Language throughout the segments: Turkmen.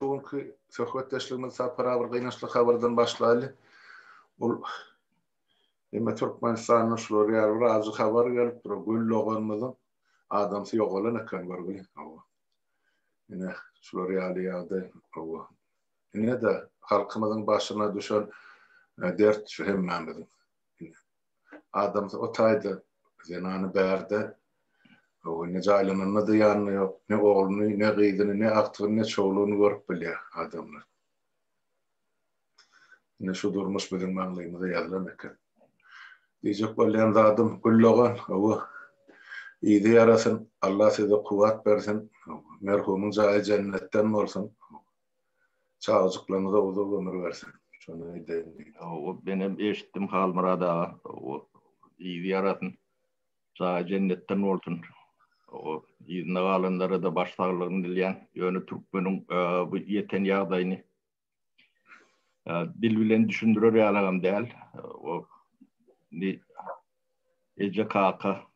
Bu günki söhbetdeşligimizi Sapar aga bir gynançly habardan başlaýly. Ol Emme Türkmenistanda şular ýaly bir ajy habar gelip dur. Gül doganymyzyň adamsy ýogalan eken görgüli. Hawa. Ine şular ýaly ýagdaý. Hawa. Ine-de halkymyzyň başyna düşen e, dert şu hemmämiziň. Adamsy o taýda zenany bärde öwrenýär. Jaýlananda-da ýanynda ýok. Ne ogluny, ne gyzyny, ne agtygyny, ne çowlugyny görüp bilýär adamlar. Ine şu durmuş biziň maňlaýymyza ýazylan eken. Diýjek bolýan zadym Güldogan, hawa, yzy ýarasyn, Alla size kuwwat bersin, merhumyň jaýy jennetden bolsun. Çagajyklaryňyza uzak ömür bersin. Şondan edeýin diýip. Hawa, menem eşitdim Halmyrat aga. Hawa, yzy ýarasyn. Jaýy jennetden bolsun. Hawa, yzyna galanlara-da baş saglygyny dilýän. Ýöne türkmeniň bu ýeten ýagdaýyny dil bilen düşündirer ýalygam däl. Hawa, indi eje, kaka,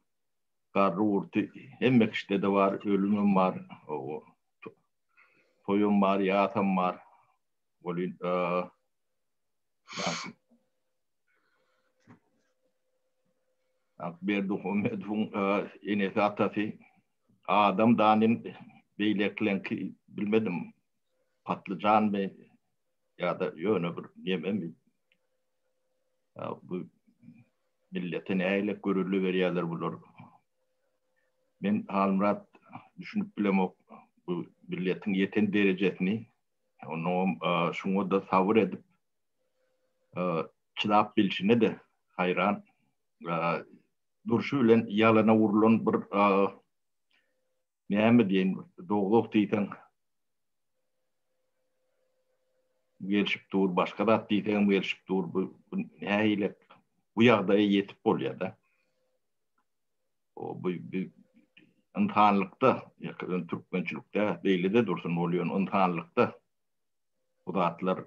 garry-gurty hemme kişide-de bar, ölümem bar. Hawa, toýum bar, ýasam bar. Welin, Berdimuhamedowyň enesi, atasy Adam Danin, beýlekileňki bilmedim, Patlyjanmy ýa-da ýöne bir nememi. bu millete näle görelde berýärler bular. Men Halmyrat düşünip bilemok bu milletiň ýeten derejesini. Onuň şuňa da sabyr edip çydap bilşine de haýran. Durşy bilen ýalana urlan bir Näme diýen bolsa dogduk diýseň gelşip dur, başga zat diýseňem gelşip dur, bu nähili bu ýagdaýa ýetip bolýar-da. O bu ynsanlykda, ýa-da türkmençilikde beýle-de dursun bolýan ynsanlykda bu zatlar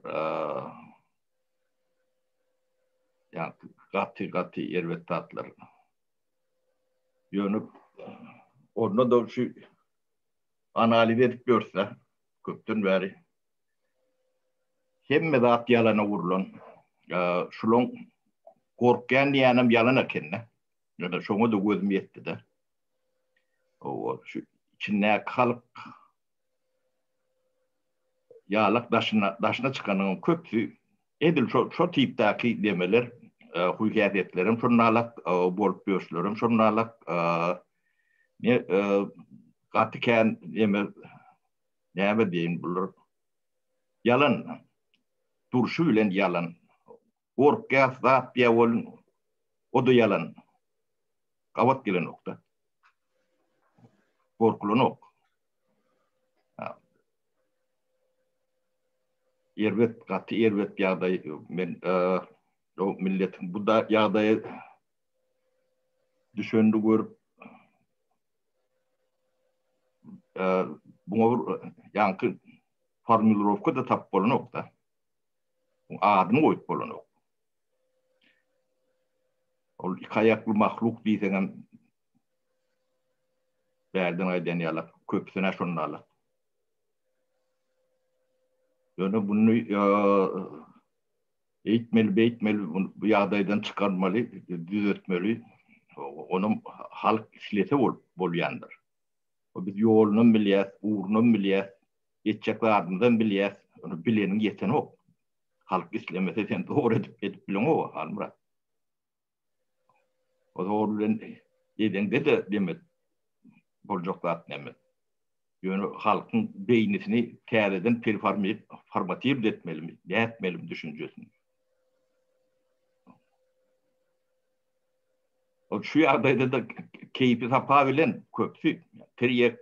ýa gaty-gaty erbet zatlar. Ýöne onda da şu analiz edip görse, köpden bäri hemme zat ýalana urlan. Şulaň gorkýan diýenem ýalan ekende. Ýöne şoňa da gözüm ýetdi-de. Owa, şu içindäki halk Ýalak daşyna daşyna çykanyň köpüsi edil şo şo tipdäki demeler huýhäsiýetlerem şonalak bolup ýörşlerem şonalak ne gaty kän deme näme diýeýin bular ýalan durşy bilen ýalan. Gorkýas zat diýä bolun oda ýalan gabat gelenokda. Gorkulanok. Erbet gaty erbet ýagdaý men o millet bu da ýagdaýa düşendi görüp bu ýaňky formulirowka da tap bolanok da. Adyny goýup bolanok. Ol iki aýakly mahluk diýseňem bärden aýdan ýalak, köpüsine şondaly. Ýöne bunu eýtmeli, beýtmeli, bu ýagdaýdan çykarmaly, düzetmeli. Ony halk islese bolup bolýandyr. Biz ýolunam bilýäs, ugrunam bilýäs. Etjek zadymyzam bilýäs. Ony bileniň ýetenok. Halk islemese sen dogry edip edip bileňoga Halmyrat. O zor bilen edeňde-de demek boljak zat däl. Ýöne halkyň beýnisini täzeden performatirt etmelimi, dätmelimi düşünjesini. Ol şu ýagdaýda-da keýpi-sapa bilen köpüsi tirýek,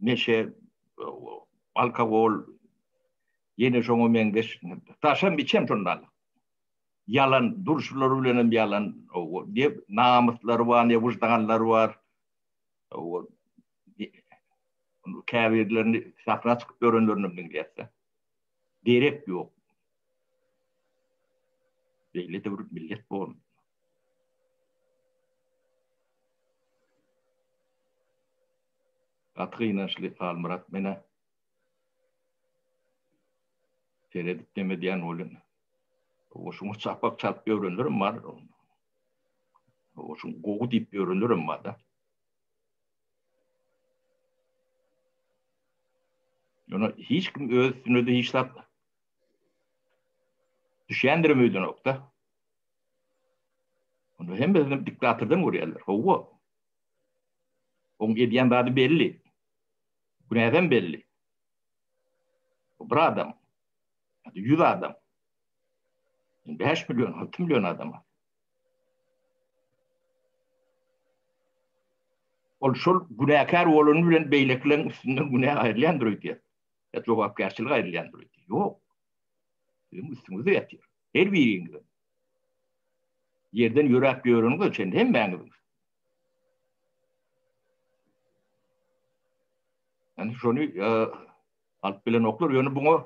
neşe, alkogol, ýene şoňa meňzeş daşam, içem şondan. Ýalan, durşulary bilen hem ýalan, ne namyslary bar, ne wyždanlary bar. Käbirlerini sahna çykyp ýörenlerini hem diňleýäs-de. Gerek ýok. Beýle döwür millet bormy? Gaty gynançly Halmyrat menä. Seredip dem edýän bolýan. Oşuň çapak çalyp ýörenlerim bar. Oşuň gowy diýip ýörenlerim bar-da. Ýöne hiç kim öz üstüne-de hiç zat düşýändirem öýdenok-da. Onda hemmesini diktatordan görýärler. Hawa. Oň edýän zady belli. Günäsem belli. Bu bir adam. Ýa-da ýüz adam. Ýa-da bäş million, alty million adam. Ol şol günäkär bolany bilen beýlekileriň üstünden günä aýrylýandyr öýdýär. Ýa jogapkärçilik aýrylýandyr öýdýär. Ýok. Siziň üstüňizde ýatyr. Her biriňiziň. Ýerden ýöräp ýöreniňize çenli hemmäňiziň. Yani şony e, alyp bilenoklar. Ýöne buňa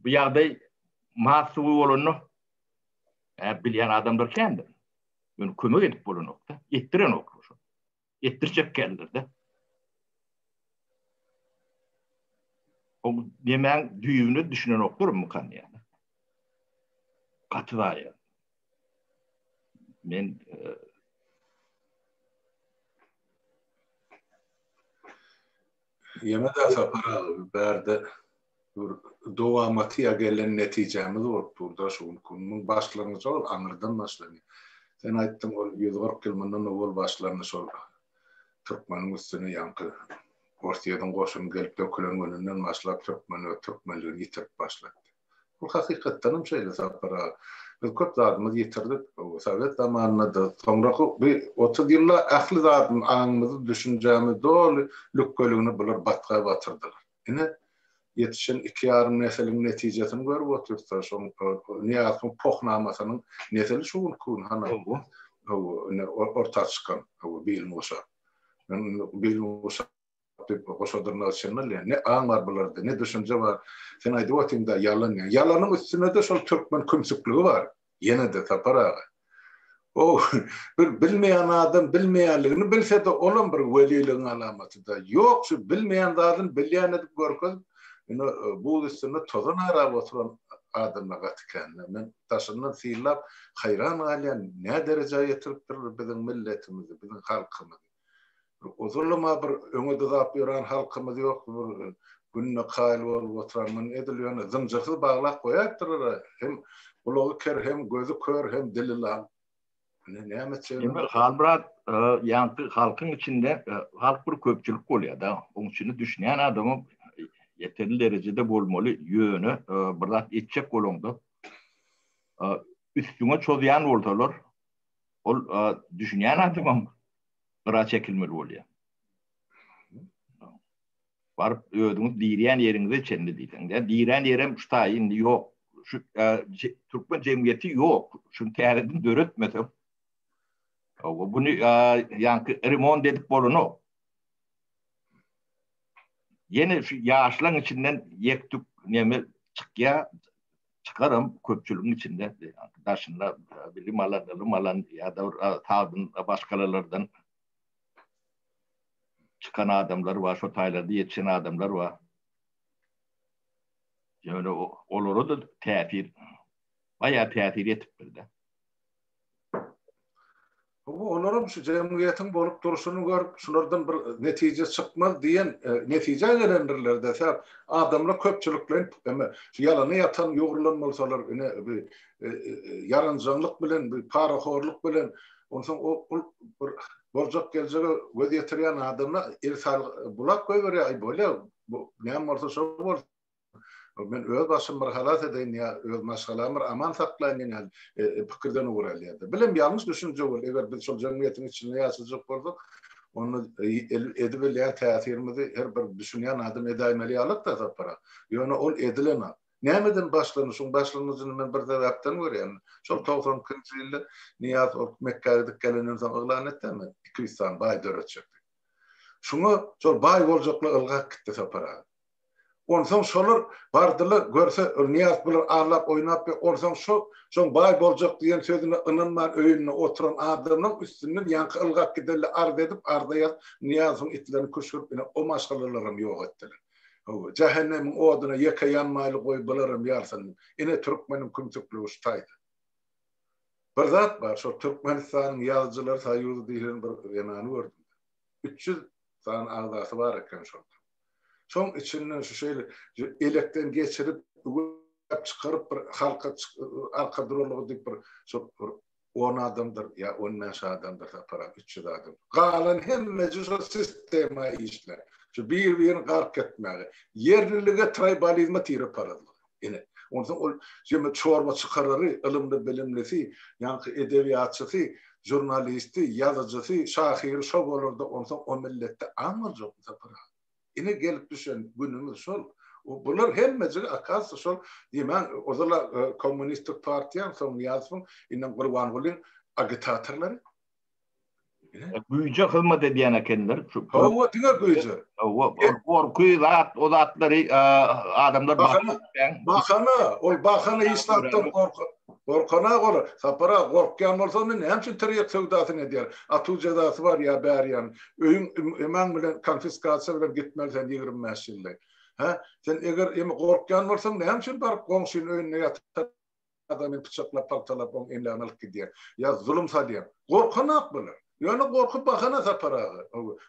bu ýagdaý mas suwy bolanda Ä bilýän adamlar kändir. Ýöne kömek edip bolanokda, etdirenok şu. Etdirjek känlerde. O nemäň düýbüne düşünenoklar mu kan ýa. Gaty zaýa. Men e, Ýene-de sapar bärde Bir dowamatyýa gelen netijämiz bolup dur da şu günki gün. Munuň başlangyjy ol aňyrdan başlany. Sen aýtdyň ol ýüz kyrk ýyl mundan owal başlandy şol türkmeniň üstüne ýaňky Orsýediň goşuny gelip dökülen gününden başlap türkmen öz türkmenligini ýitirip başlady. Bu hakykatdanam şeýle Sapar aga. Biz köp zadymyzy ýitirdik. Bu sowet zamanynada soňraky bi otuz ýylda ähli zadym aňymyzy düşünjämiz doly lükgeligini bular batga batyrdylar. Ine, ýetişen iki ýarym nesiliň netijesini görüp otursa, şoň Nyýazowyň pohnamasynyň nesili şu günki gün hana bu, hawa, ine, orta çykan, hawa, Bilmuşa. Men indi Bilmuşa diýip, goşa dyrnak içinde bilýän, ne aň bar bularda, ne düşünje bar. Sen aýdyp otyň-da, ýalan ýalan. Ýalanyň üstünde-de şol türkmen kümsükligi bar. Ýene-de Sapar aga. Ow, bir bilmeýän adam bilmeýänligini bilse-de, olam bir weliligiň alamaty-da. Ýok, şu bilmeýän zadyny bilýän edip görkezip, ine, buz üstünde tozan arap oturan adamlar gaty kän-dä. Men daşyndan synlap, haýran galýan, nädereja ýetiripdirler biziň milletimizi, biziň halkymyzy. Uzynlyma bir öňe dyzap ýören halkymyz ýokdy, bir gününe kaýyl bolup oturan muny edil ýöne zynjyrsyz baglap goýapdyr-a, hem gulagy ker, hem gözi kör, hem dili lal. Ine näme etjegini. Emir Halmyrat ýaňky halkyň içinde halk bir köpçülik bolýar-da, onuň içinde düşünýän adamam ýeterli derejede bolmaly, ýöne bir zat etjek bolaňda üstüňe çozýan bolsalar, Ol düşünýän adamam gyra çekilmeli bolýar. Baryp özüňiz dirýän ýeriňize çenli diýseň, ýa dirän ýerem şu taý indi ýok. Şu türkmen jemgyýeti ýok. Şuny täzeden döretmesek. Owa buny ýanky remont edip bolanok. Ýene şu ýaşlaň içinden ýek-tük neme çykýar, çykaram köpçüligiň içinde daşynda bilim alan ylym alan ýa-da sagdyn başgalalardan çykan adamlar bar şo taýlarda ýetişen adamlar bar ýöne olara da täsir baýa täsir etipdir-de Bu olaram şu jemgyýetiň bolup durşuny görüp, şulardan bir netije çykmaz diýen netijä gelendirler desem, adamlar köpçülikleýin eme şu ýalana ýatan ýugrulan bolsalar ine bi ýaranjaňlyk bilen bi parahorlyk bilen onsoň o ol bir boljak geljege göz ýetirýän adamlar el sal bulap goýberýär aý bolýa bu näme bolsa şo bolsun. Men öz başym bir halas edeýin ýa öz maşgalamy bir aman saklaýyn diýen ýaly pikirden ugur alýardy. Bilem ýalňyş düşünje bol, eger biz şol jemgyýetiň içinde ýaşajak bolsak, onda edip bilýän täsirimizi her bir düşünýän adam edäýmeli ýalyk da Sapara. Ýöne ol edilenok. Nämeden başlandy? Şuň başlangyjyny men bir sebäpden görýän. Şol togsan ikinji ýylda Nyýaz ol Mekgä gidip gelenden soň yglan etdemi, iki ýüz sany baý döretjekdigini. Şuňa şol baý boljaklar ylgap gitdi Sapara. Onsoň şolar bardylar, görse, Ylnyýaz bular allap oýnap we onsoň şo, şoň baý boljak diýen sözüne ynanman öýünde oturan adamlaň üstünden ýaňky ylgap gidenle arz edip, arza ýazyp, Nyýazowyň itlerini küşgürip ine o maşgalalaram ýok etdiler. Hawa, jähennemiň oduna ýeke ýanmaýly goý bularam ýalsyn. Ine türkmeniň kümsükligi şu taýda. Bir zat bar, şol Türkmenistanyň ýazyjylar soýuzy diýlen bir zenany gördüm. Üç ýüz sany agzasy bar eken şol. Şoň içinden şu şeýle elekden geçirip, üwäp çykaryp bir halka arka durarlygy diýip bir şo bir on adamdyr ýa on bäş adamdyr taparan üç ýüz adam. Galan hemmesi şo sistema işler. Şu bir-birini gark etmäge. Ýerlilige traýbalizme tirip baradlar. Ine, onsoň ol jemi çorba çykarary, ylymly-bilimlisi, ýaňky edebiýatçysy, žurnalisti, ýazyjysy, şahyry şo bolarda onsoň o milletde aň boljak bu sapar aga. Ine gelip düşen günümiz şol. Bular hemmejigi akasiýa şol diýmäň ozal-a kommunistik partiýaň, soň Nyýazowyň, indem Gurbangulyň agitatorlary. Güýje hyzmat edýän ekenler. Hawa, diňe güýje. Hawa, gorky zat, o zatlary adamlar bahana. Bahana, ol bahana hiç zatdan gorkup. Gorkana gora, sapara gorkýan bolsa, onda näme üçin tirýek söwdasyny edýär? Atuw jezasy bar ýa bär ýan. Öýüň eman bilen konfiskasiýa bilen gitmeli sen 25 ýylda. Hä? Sen eger emi gorkýan bolsaň, näme üçin baryp goňşynyň öýünde ýatyp adamy pyçaklap, pagtalap oň emlägini alyp gidýär. Ýa zulum salýar. Gorkanok bular. Ýöne gorky bahana Sapar aga.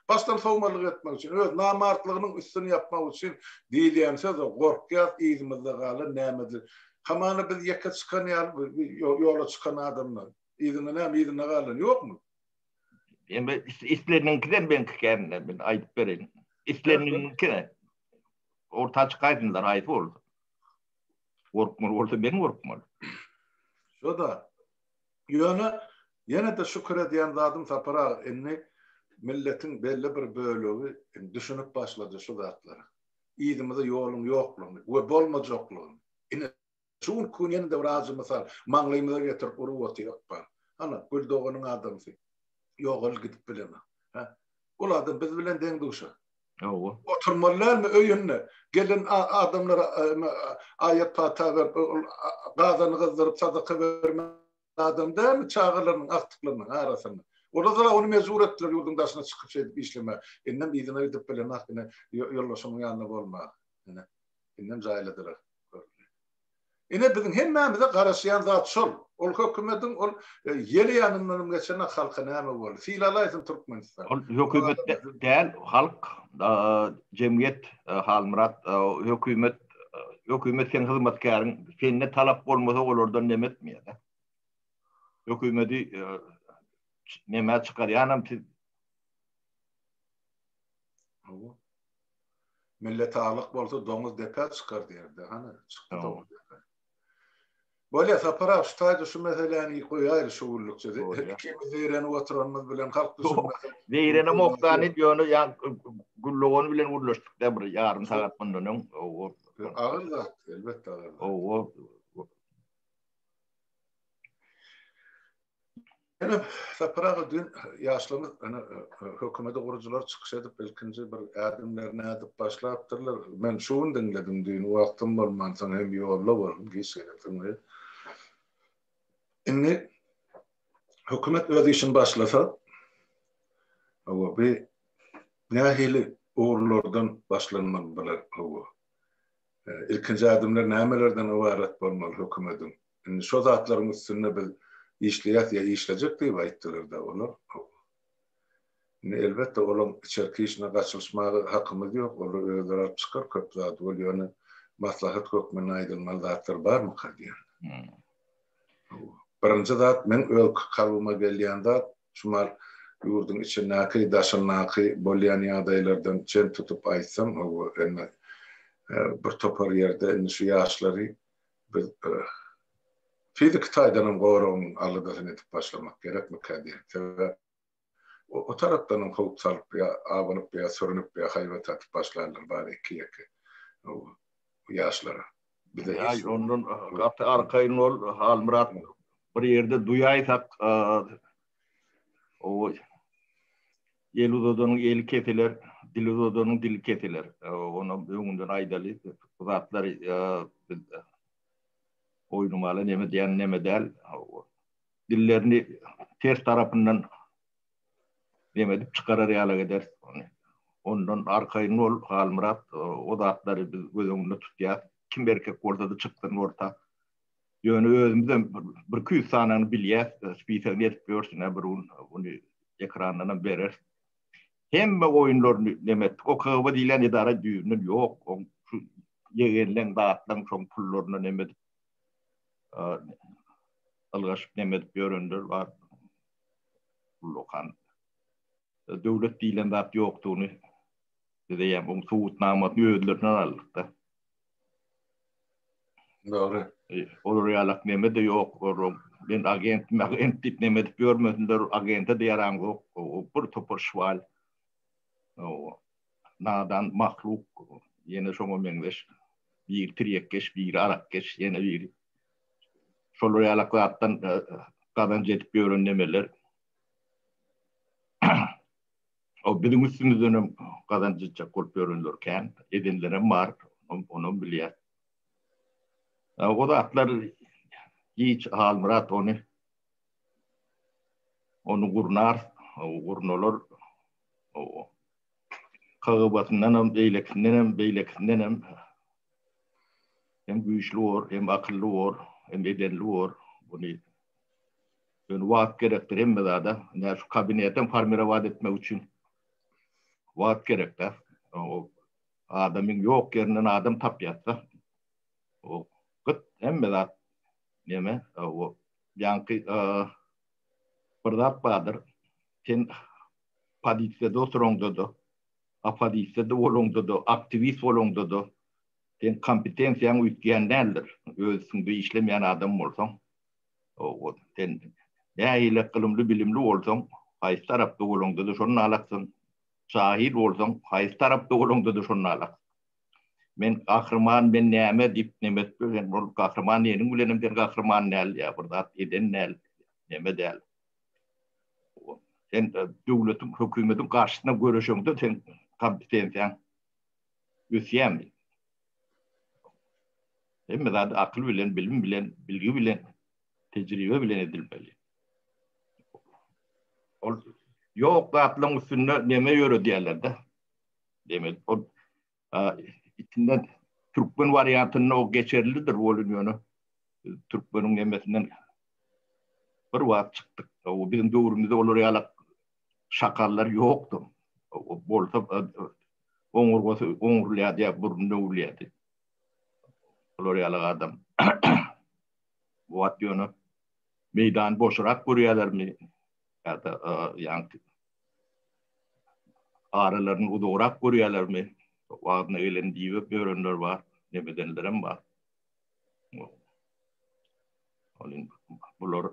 Başdan sowmazlyk etmek üçin, öz namartlygynyň üstüni ýapmak üçin diýilýän söz-o. Gorkýas, yzymyzda galan nämedir. Hamana biz ýeke çykan ýaly bi ýola çykan adamdan. Yzyňda näme, yzynda galan ýokmy? Indi isleniňkiden men kände men aýdyp bereýin. Isleniňki. Orta çykaýsynlar aýsy bolsa. Gorkmaly bolsa men gorkmaly. Şo-da. Ýöne ýene-de şükür edýän zadym Sapar aga, indi milletiň belli bir bölegi düşünip başlady şu zatlara. Yzymyza ýoluň ýoklugyny we bolmajaklygyny. Ine, şu günki gün ýene-de bir ajy mysal maňlaýymyza getirip urup otyr ykbal. Hana, Gül doganyň adamsy. Ýogalyp gidip bilenok. Hä? Ol adam biz bilen deň-duşa. Hawa. Oturmaly dälmi öýünde? Gelen adamlara aýat pata berip, ol gazany gyzdyryp sadaka bermän adam dälmi çagalarynyň agtyklarynyň arasynda? Olar-da ony mejbur etdiler ýurduň daşyna çykyp şeýdip işlemä. Indem yzyna gidip bilenok ine ýoldaşynyň ýanynda bolmaga. Ine, indem jaýladylar. Ine biziň hemmämize garaşýan zat şol. Ol hökümediň ol ýel ýanyndanam geçenok halka näme boldy. Sylalaýsyn Türkmenistan. Ol hökümet däl halk jemgyýet Halmyrat hökümet hökümet seň hyzmatkäriň sende talap bolmasa olardan neme etmeýäda. Hökümedi neme çykarýanam siz. Millet aglyk bolsa doňuz depä çykar diýerdi. Hany, çykdy doňuz depä. Bolýa, Sapar aga, şu taýda şu meseläni goýaýly şu günlükçe. Ikimiz zeýrenip oturanymyz bilen halk düşünmesin. Zeýrenemok-da, nit ýöne Güldogan bilen gürleşdik-de bir ýarym sagat mundan öň. Agyr zat, elbetde agyr zat. Ýöne Sapar aga düýn ýaşlaryň ene hökümedi gurujylar çykyş edip ilkinji bir ädimlerini ädip başlapdyrlar. Men şu gün diňledim düýn wagtym bolmansoň hem ýolda boldum giç gelensoň we indi hökümet öz işini başlasa hawa bi nähili ugurlardan başlanmaly bular hawa ilkinji ädimler nämelerden ybarat bolmaly hökümediň Indi şo zatlaryň üstünde biz işleýäs ýa işlejek diýip aýtdylar-da olar. Indi elbetde olaň içerki işine gaçylyşmaga hakymyz ýok, olar özleri alyp çykar köp zady, ol ýöne maslahat hökmünde aýdylmaly zatlar barmyka diýen. Birinji zat meň öz kalbyma gelýän zat, şumal ýurduň içindäki, daşyndaky bolýan ýagdaýlardan çen tutup aýtsam, hawa, indi bir topar ýerde indi şu ýaşlary Biz fiziki taýdan hem goragyň aladasyny edip başlamak gerekmikä diýen. Sebäp o tarapdan hem howp salyp ýa abanyp ýa sürünip ýa haýbat atyp başlaýanlar bar iki-ýeke ýaşlara. Aý ondan gaty arkaýyn ol Halmyrat bir ýerde duýaýsak Owo. El uzadanyň eli kesiler, dil uzadanyň dili kesiler. Onam öňünden aýdaly, bu zatlary biz oýnamaly neme diýen neme däl. Dillerini ters tarapyndan neme edip çykarar ýaly gider. Ondan arkaýyn bol, Halmyrat, o zatlary biz göz öňünde tutýas. Kim erkek bolsa-da çyksyn orta. Ýöne özümizem birki ýüz sanany bilýäs, spise gezip ýörsün, bir gün bunu ekrandanam berer. Hemme oýunlaryny neme etdik. O KGB diýlen edara düýbünden ýok. Oň şu ýegenleň, zatlaň şoň pullaryny neme edip, ylgaşyp neme edip ýörenler bar. Ullakan. Döwlet diýlen zat ýokdugyny bize ýa-da subutnamasyny özlerinden aldyk-da. Dogry. E, olar ýalak neme de ýok. Olar men agent, agent diýip neme edip ýörmesinler, agente de ýaraň ýok. O bir topar şwal. O nadan mahluk. Ýene şoňa meňzeş. Bir tirýekkeş, bir arakkeş, ýene bir. Şolar ýalak zatdan e, gazanç edip ýören nemeler. O biziň üstümizdenem gazanç etjek bolup ýörenler kän, edenlerem bar, onam bilýär. O zatlar giç Halmyrat ony ony gurnar, gurnalar kagybatyndanam, beýlekisindenem, beýlekisindenem hem güýçli bor, hem akylly bor, hem edenli bor. Buny Ýöne wagt gerekdir hemme zada. Ine şu kabinetem formirowat etmek üçin wagt gerekdä. Adamyň ýok ýerinden adam tapýasda. Ol gyt hemme zat neme ol ýaňky bir zat bardyr. Sen pozisiýada oturaňda-da, opozisiýada bolaňda-da, aktiwist bolaňda-da sen kompetensiýaň üýtgän däldir. Öz üstüňde işlemeýän adam bolsaň. Sen nähili ylymly-bilimli bolsaň, haýsy tarapda bolaňda-da şony nalaksyň. Jahil bolsaň, haýsy tarapda bolaňda-da şony nalaksyň. Men gahryman, men näme diýip neme edip ýörseň, ol gahryman diýeniň bilenem sen gahryman däl ýa bir zat eden däl, neme däl. Sen döwletiň, hökümetiň garşysyna göreşeňde sen kompetensiýaň ösýärmi? Hemme zady akyl bilen, bilim bilen, bilgi bilen, tejribe bilen edilmeli. Ol ýok zatlaryň üstünde neme ýöredýärler-de. Demek, ol içinden türkmen wariantynda o geçerlidir bolun ýöne türkmeniň nemesinden bir wagt çykdyk. O biziň döwrümizde olar ýalak şakallar ýokdur. Bolsa oňurgasy oňurlýardy ýa burny döwülýärdi. Bular ýaly adam. Bu wagt ýöne meýdany boşurak görýärlermi? Ýa-da ýaňky aralaryny uzagrak görýärlermi? Wagtyna gelen diýip ýörenler bar, neme edenlerem bar. Onuň bular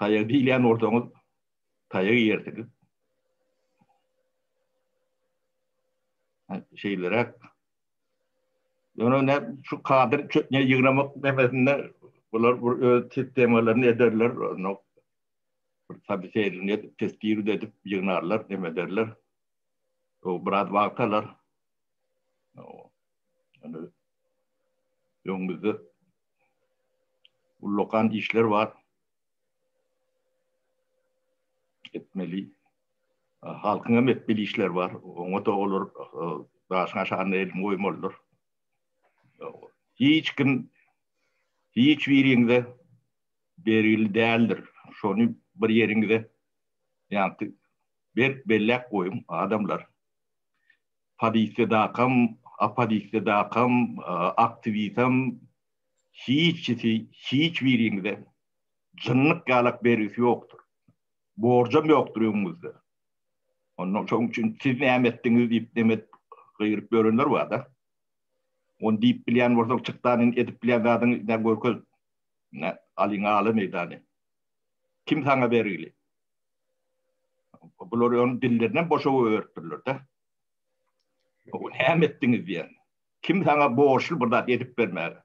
Taýagy diýilýän bolsaňyz, taýagy ýersiňiz. Şeýleräk. Ýöne ne şu kadr çökňe ýygnamak demesinde bular bir öz sistemalaryny ederler, no. Bir tabi seýrini edip, testiri edip ýygnarlar, deme ederler. O biraz wagt alar. Ýöne öňümizde ullakan işler bar. Etmeli. Halkyň hem etmeli işler bar. Oňa da olar daşyň aşagynda elini goýmalydyr. Hiç kim hiç biriňize bergili däldir. Şony bir ýeriňize ýagty berk belläp goýuň adamlar. Polisiýadakam, oppozisiýadakam, aktiwisem, hiç kisi hiç biriňize jynnyk ýalak bergisi ýokdur. Borjam ýokdur öňüňizde. Onda şoň üçin siz näme etdiňiz diýip neme edip gygyryp ýörenler bar-da. Ony diýip bilýän bolsaň çyk da indi edip bilýän zadyňy görkez. Ine, alyň ala meýdany. Kim saňa bergili? Bular öň dillerinden boşa öýertdirler-de. Bu näme etdiňiz diýen. Kim sana borçly bir zat edip bermäge?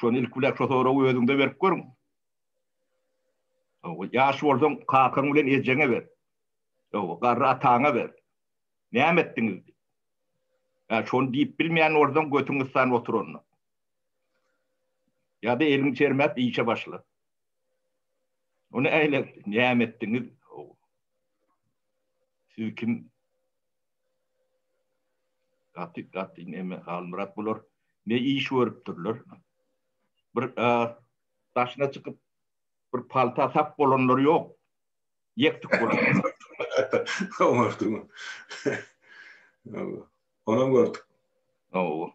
Şony ilk bilen şu soragy özüňde berip görüň. Owa, ýaş bolsaň, kakaň bilen ejeňe ber. Owa, garry ataňa ber. Näme etdiňiz? Ýa şony diýip bilmeýän bolsaň, götüň yssan otur onda. Ýa-da eliňi çermäp işe başla. Ony äýlek näme etdiňiz? Siz kim? Gaty gaty näme Halmyrat bular? Ne iş görüpdirler? Bir daşyna çykyp bir palta sap bolanlar ýok. Ýekdik bolanlar. Oňardymy? Onam gördük. Owa.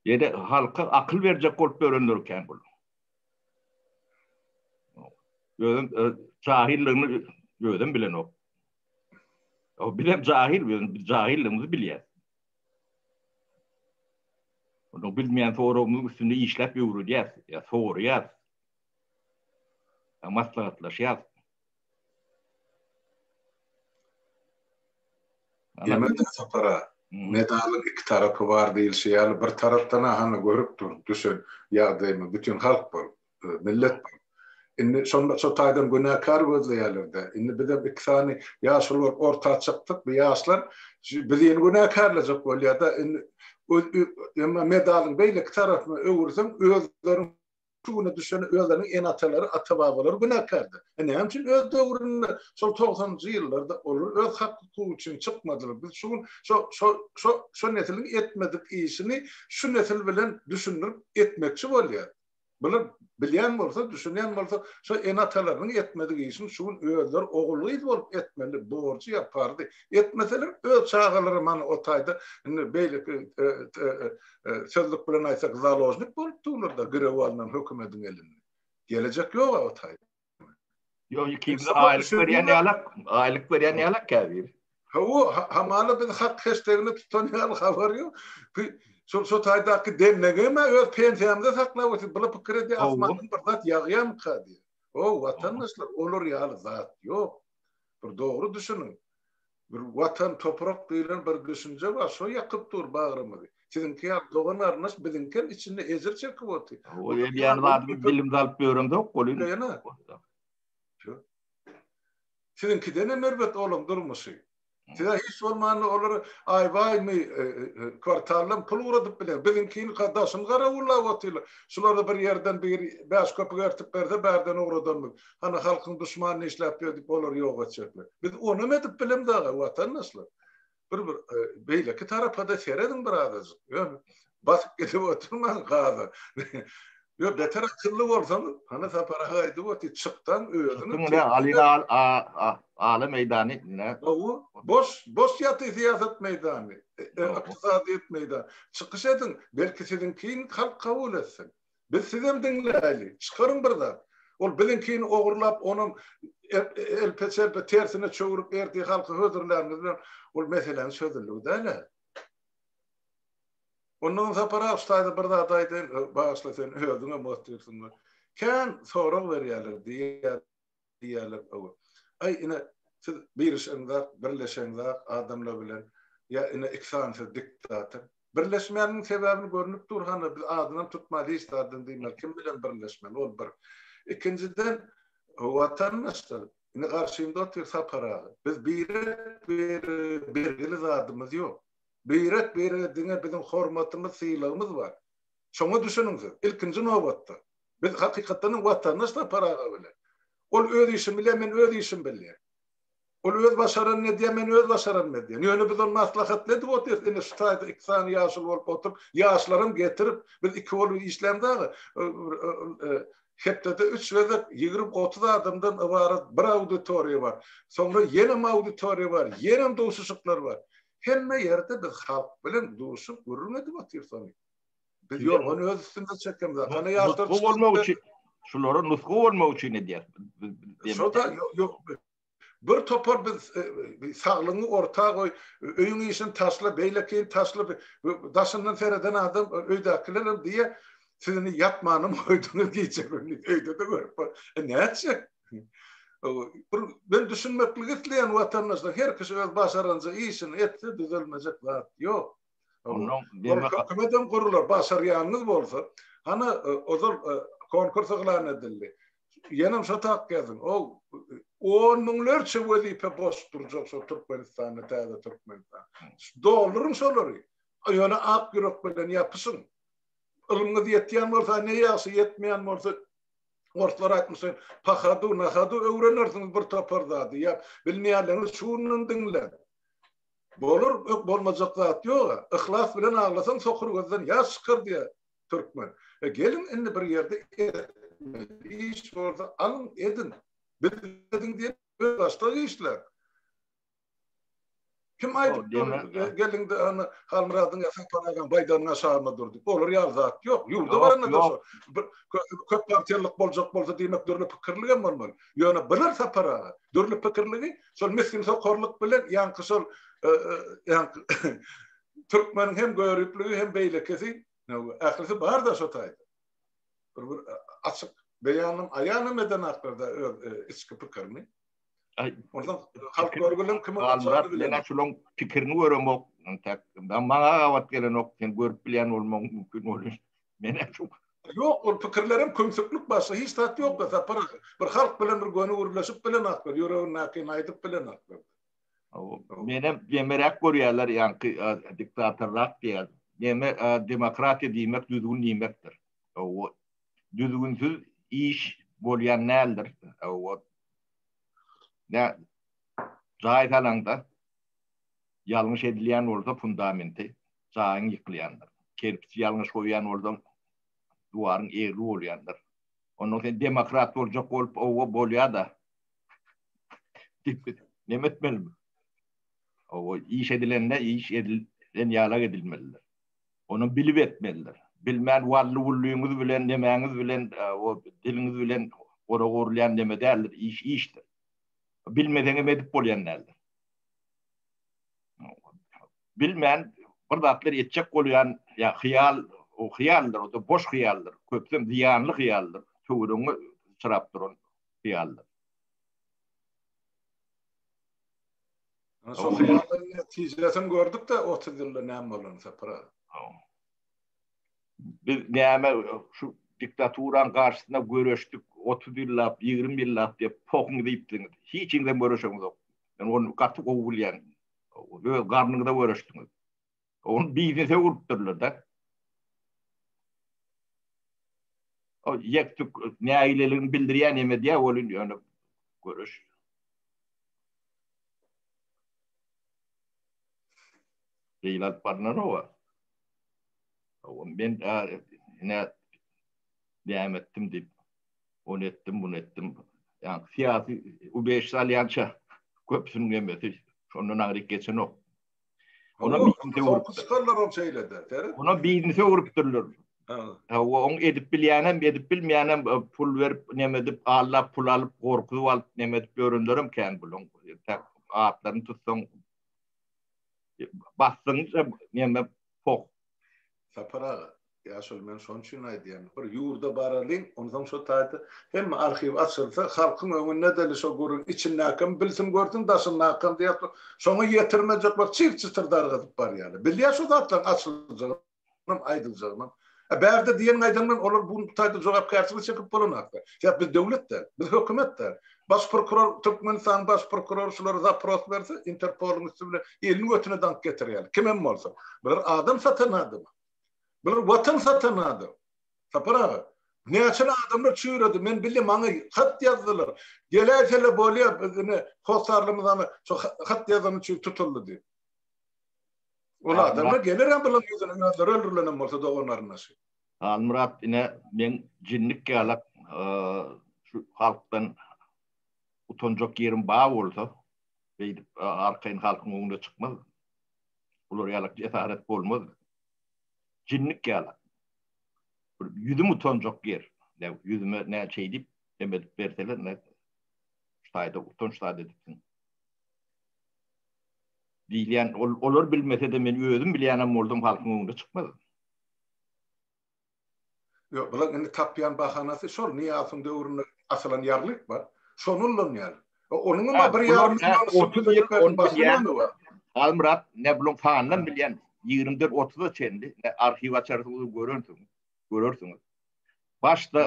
Ýede halka akyl berjek bolup dörenler ikän bular. Özüm jahilligimi özüm bilenok. O bir hem jahil, biz jahilligimizi bilýär. Onu bilmeýän soragymyzyň üstünde işläp ýöwredýär, ýa soraýar. Maslahatlaşýar. Ýemeden sapara medalyň iki tarapy bar diýilşi ýaly, bir tarapdan-a hany görüp dur, düşen ýagdaýymy, bütin halk bolup, millet bolup. Indi şonda şo taýdan günäkär gözleýärler-dä. Indi bizem iki sany ýaş bolup orta çykdyk, bu ýaşlar bizeni günäkärlejek bolýar-da. Indi emma medalyň beýleki tarapyna öwürseň, özleriň Şu güne düşen özleriniň ene-atalary, ata-babalary günäkärdir. E näme üçin öz döwründe, şol togsanynjy ýyllarda olar öz hak-hukugy üçin çykmadylar? Biz şu gün şo, şo, şo, şo nesiliň etmedik işini şu nesil bilen düşündirip etmekçi bolýarys. Bular bilýän bolsa, düşünýän bolsa, şo ene-atalarynyň etmedik işini şu gün özleri ogul-gyz bolup etmeli, borjy ýa parzy. Etmeseler öz çagalary mana o taýda indi beýleki e, e, e, Sözlük bilen aýtsak založnik bolup durlarda girew alnan hökümediň elinde. Gelejek ýok a o taý. Ýok ikinji aýlyk berýän ýalak, aýlyk berýän ýalak käbir. Hawa, hamala biz hak heştegini tutan ýaly habar ýok. Şol şo taýdaky dennegeme öz pensiýamyzy saklap otyr. Bula pikir edýär, asmandan bir zat ýagýarmyka diýip. O, watandaşlar, olar ýaly zat ýok. Bir dogry düşüniň. Bir watan toprak diýlen bir düşünje bar şo ýakyp dur bagrymyzy. Siziňki ýaly dogan garyndaş biziňkem içinde ejir çekip oty. Ol edýän zadymy bilimde alyp ýöremzok ol indi. Ýöne. Ýok. Siziňkidenem erbet olaň durmuşy. Size hiç bolmanda olara aýbaýmy kwartaldan pul ugradyp biler. Biziňkini daşyny garawullap otylar. Şulara bir ýerden biri bäş köpük ertip berse bärden ugradanmyz. Hany halkyň duşmanyny işläp berdik olary ýok etjekler. Biz onam edip bilemz aga watandaşlar. Bir bir beýleki tarapa-da serediň bir azajyk. Ýöne basyp gidip oturmaň gaza. Ýok beter akylly bolsaň, hany Sapar aga aýdyp otyr, çykdan özüňi. Diňle Ali aga ala meýdany diňle. Gowy, boş, boş ýatyr syýasat meýdany, ykdysadyýet meýdany. Çykyş ediň, belki siziňkini halk kabul etsin. Biz sizem diňläýli. Çykaryň bir zat. Ol biziňkini ogurlap, onam elpe-çelpe tersine çöwrüp ertir halky hödürläniňiz bilen ol meseläniň çözüldigi däl-ä. Ondan Sapar aga, şu taýda bir zat aýdaýyn, bagyşla sen özüňem otyrsyň we kän sorag berýärler diýýär. diýýärler hawa. Aý, ine, siz birişeňzak, birleşeňzak adamlar bilen, ýa ine iki sany siz diktator. Birleşmäniň sebäbini görnüp dur hany, biz adynam tutmaýly hiç zadyň diýmeli, kim bilen birleşmeli, ol bir. Ikinjiden, watandaşlar, indi garşymda otyr Sapar aga, biz birek-birege bergili zadymyz ýok. Birek-birege diňe biziň hormatymyz, sylagymyz bar. Şoňa düşüniň siz, ilkinji nobatda. Biz hakykatdanam watandaş Sapar aga bilen. Ol öz işini bilýär, men öz işimi bilýän. Ol öz başaranyny edýär, men öz başaranymy edýän. Ýöne biz ony maslahatly edip otyrys. Ine şu taýda iki sany ýaşuly bolup oturyp, ýaşlaram getirip, biz iki bolup işlämiz aga. Hepdede üç gezek ýigrimi-otuz adamdan ybarat bir auditoriýa bar. Soňra ýenem auditoriýa bar, ýenem duşuşyklar bar. Hemme ýerde biz halk bilen duşup, gürrüň edip otyrys ony. Biz yorgan öz üstünde çekemiz. Kana yaşlar çıkıp. olmak üçin. Şulara nusga olmak üçin edýär. Şoda yok. Bir topar biz e, e, saglygyňy orta goý, öýüň işini taşla, beýlekin taşla, daşyndan sereden adam e, öýdäkiler hem diýe, sizni ýatmanym goýduňyz gije güni, öýde-de görüp bar. E näçe? Bir ben düşünmeklik isleýän watandaşlar her kişi öz başarança işini etse düzelmejek zat ýok. Ondan demek hökümetem gurular başarýanyňyz bolsa, hany e, ozal e, konkurs yglan edildi. Ýenem şo tak ýazyň. Ol on müňlerçe wezipe boş durjak şo Türkmenistanda, täze Türkmenistan. Dolduryň şolary. Ýöne ak ýürek bilen ýapyşyň. Ylmyňyz ýetýän bolsa ne ýagşy, ýetmeýän bolsa Orslar aýtmyşlar, pahadu, nahadu öwrenersiňiz bir topar zady. Ýa bilmeýänleriňiz şundan diňle. Bolar öh bolmajak zat ýoga, yhlas bilen aglasaň sokur gözden ýaş çykar diýýär türkmen. E geliň indi bir ýerde etmeli iş bolsa alyň ediň. Biz ediň diýen öz başga işler. Kim aýdyp dur gelinde ana Halmyradyň ýasan paragam baýdagynyň aşagynda dur diýip. Olar ýaly zat ýok. Ýurda baranda da şo bir köp partiýalyk boljak bolsa diýmek dürli pikirligem bolmaly. Ýöne biler sapar aga. Dürli pikirligi Şol misgin sokarlyk bilen ýaňky şol türkmeniň hem göripligi hem beýlekisi ählisi bar-da şo taýda. Bir bir açyk beýanym aýanym eden haklarda öz e, içki pikirini. Ondan halk görgülen kimi Almyrat men şulan pikirini göremok. Tek maňa gabat gelenok. Sen görüp bilýän bolmaň mümkin bolar. Men äpjum. Ýok, ol pikirlerem kömsüklik başga hiç zat ýokda Sapar aga. Bir halk bilen bir göni gürleşip bilen atlar, ýüregindäkini aýdyp bilen atlar. Menem demeräk görýärler ýaňky diktatorrak diýýär. Deme demokratiýa diýmek düzgün diýmekdir. Hawa. Düzgünsiz iş bolýan däldir. Hawa. Nä jaý salanda ýalňyş edilýän bolsa fundamenti jaýyň ýykylýandyr. Kerpiçi ýalňyş goýýan bolsaň, diwaryň egri bolýandyr. Ondan sen demokrat boljak bolup, owa, bolýa-da. Näme etmeli? Owa, iş edilende iş edilen ýalak edilmelidir. Ony bilip etmelidir. Bilmän wally-wullyňyz bilen, nemäňiz bilen, o diliňiz bilen gorag urulýan neme däldir, iş işdir. Bilmeseňem edip bolýan däldir. bilmän bir zatlar etjek bolýan ýa hyýal o hyýaldyr o boş hyýaldyr köpden zyýanly hyýaldyr töwrüňi çyrap duran hyýaldyr Şol hyýaldan netijesini gördük de 30 ýylda näme bolan sapra Biz näme şu diktaturan garşysyna göreşdik 30 ýyllap 20 ýyllap diýip pohuň diýipdiňiz hiç ýerden göreşeňiz ýok. Men onu gaty gowy bilýän. öz garnyňyza göreşdiňiz. Ony biznese urupdyrlar-da. O ýekdük nägileligini bildirýän neme diýä, ol indi ýöne görüş. Beýle alyp barlar owa. Owa men ine näme etdim diýip. ony etdim, muny etdim. Ýa syýasy ubeş salýança köpüsiniň emmesi şondan agyryk geçenok. Ona biznesewrupdyr. Ona şeýlede. Ona biznese öwrüpdirler. Ha, oň edip bilýänem, edip bilmeýänem pul berip, näme edip, allap pul alyp, gorkuzyp alyp, näme edip ýörenlerem kän buluň. Tak atlaryny tutsaň basdyň, näme, poh. Sapar aga. Ýaşuly men şon üçin aýdýan bir ýurda baralyň onsoň şo taýda hemme arhiw açylsa halkyň öňünde däli şo gürüň içindäkem bilsin görsün daşyndakam diýýär şo şoňa ýetirmejek bak çyr çytyr dargadyp barýaly bilýär şo zatlaryň açyljagynam aýdyljagynam a bärde diýen gaýdan bilen olar bu taýda jogapkärçilik çekip bolanakda sebäp biz döwlet däl biz hökümet däl baş prokuror türkmenistanyň baş prokurory şulara zapros berse interpolyň üsti bilen elini götüne daňyp getirýäli kimem bolsa bir adam satan adama Bular watan satan adam. Sapar aga, näçe adamlar çüýredi, men bildim, maňa hat ýazdylar. Geläýsele bolýa, biz ine hossarlymyz ana şo hat ýazany üçin tutuldy diýip. Ol adamlar geler-ä bularyň ýüzüne, özleri öldürilenem bolsa dogan-garyndaşy. Halmyrat, ine, meň jinnik ýalak şu halkdan utanjak ýerim bar bolsa, beýdip arkaýyn halkyň öňüne çykmaz. Bular ýalak jesaret bolmaz. Jinnik ýalak. Bir ýüzüm utanjak ýer. Näw ýüzüme näçe edip hem edip berseler, näw şaýda utanç zat edipsiň. Diýilýän, ol, olar bilmese-de men özüm bilýänem boldum, halkyň öňüne çykmaz. Ýok, bulaň indi tapýan bahanasy şol, Nyýazowyň döwründe asylan ýarlyk bar, şony ullanýarlar. E, onuňam bir ýarym milliony subsidiýa berip bersin, başga näme bar? Halmyrat, ne bulaň sanynam bilýän, ýigrimi dört, otuza çenli, ne arhiw açarsyňyz, görensiň, görersiňiz. Başda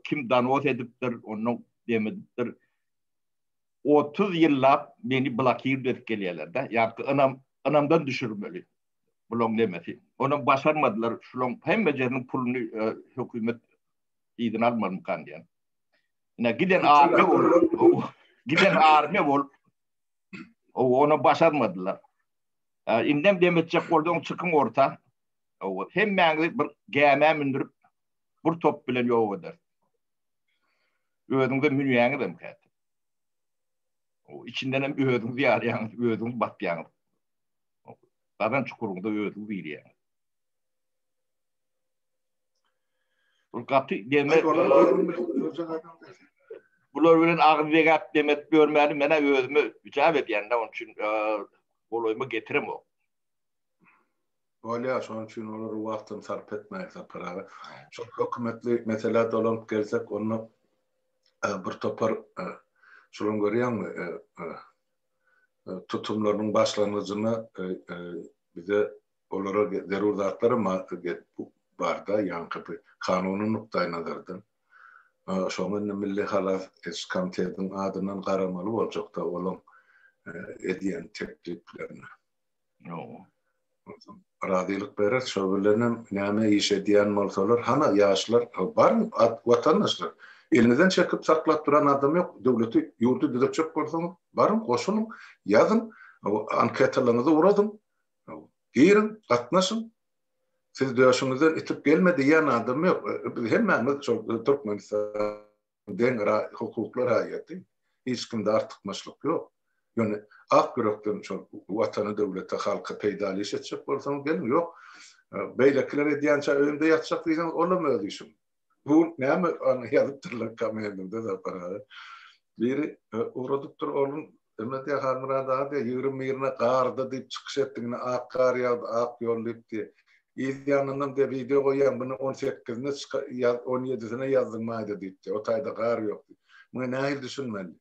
kim donos edipdir, ondan dem edipdir. Otuz ýyllap meni blokirdew edip gelýärler-de, ýa-da ynam, ynamdan düşürmeli. bulaň nemesi onam başarmadylar şulaň hemmejeriniň puluny hökümet yzyna almarmykan diýen ine giden army bolup giden army bolup ona başarmadylar indem dem etjek bolsaň çykyň orta hemmäňizi bir gämä mündürip bir top bilen ýok eder özüňize münýäňiz hem kä içinden hem özüňizi ýarýaňyz özüňiz batýaňyz Gazan çukuryňda özüňi bilýäň. Ol gaty deme. Bular bilen agyz degäp demet görmäni menä özüme ücap edýän-de, onuň üçin golaýyma getiremok. Bolýar, şonuň üçin olary wagtdan sarp etmäýik Sapar aga. Şol hökümetli meselä dolanyp gelsek, onda bir topar şulan görýäňmi, tutumlarynyň başlangyjyna bize olara zerur zatlar barda, ýaňky bir kanuny nukdaýnazardan. Şoňa indi Milli halas ediş komitetiniň adyndan garamaly boljakda olaň edýän tekliplerine. Ýoga. Razylyk berer, şo bilenem näme iş edýän bolsalar, hana ýaşlar bar watandaşlar. Eliňizden çekip saklap duran adam ýok. Döwleti, ýurdy düzetjek bolsaňyz, baryň, goşulyň, ýazyň, anketalaryňyzy uradyň, giriň, gatnaşyň. Siz döşüňizden itip gelme diýýän adam ýok. Biz hemmämiz şol Türkmenistanyň. deň hukukly raýaty, hiç kimde artykmaçlyk ýok. Ýöne ak ýürekden şol Watana, döwlete, halka peýdaly iş etjek bolsaňyz geliň, ýok, beýlekiler edýänçä öýümde ýatjak diýseňiz, olam öz işiň. Bu näme ýazypdyrlar komendiňde Sapar aga. Biri ugradypdyr, onuň Hürmetli Halmyrat aga ýigrim birine gardy diýip çykyş etdi ine ak gar ýagdy ak ýol diýip diýe. Yz ýanynam diýe wideo goýýaň bini on sekizine ýaz on ýedisine ýazdyň maýda diýip diýe o taýda gar ýok diýip. Muňa nähili düşünmeli.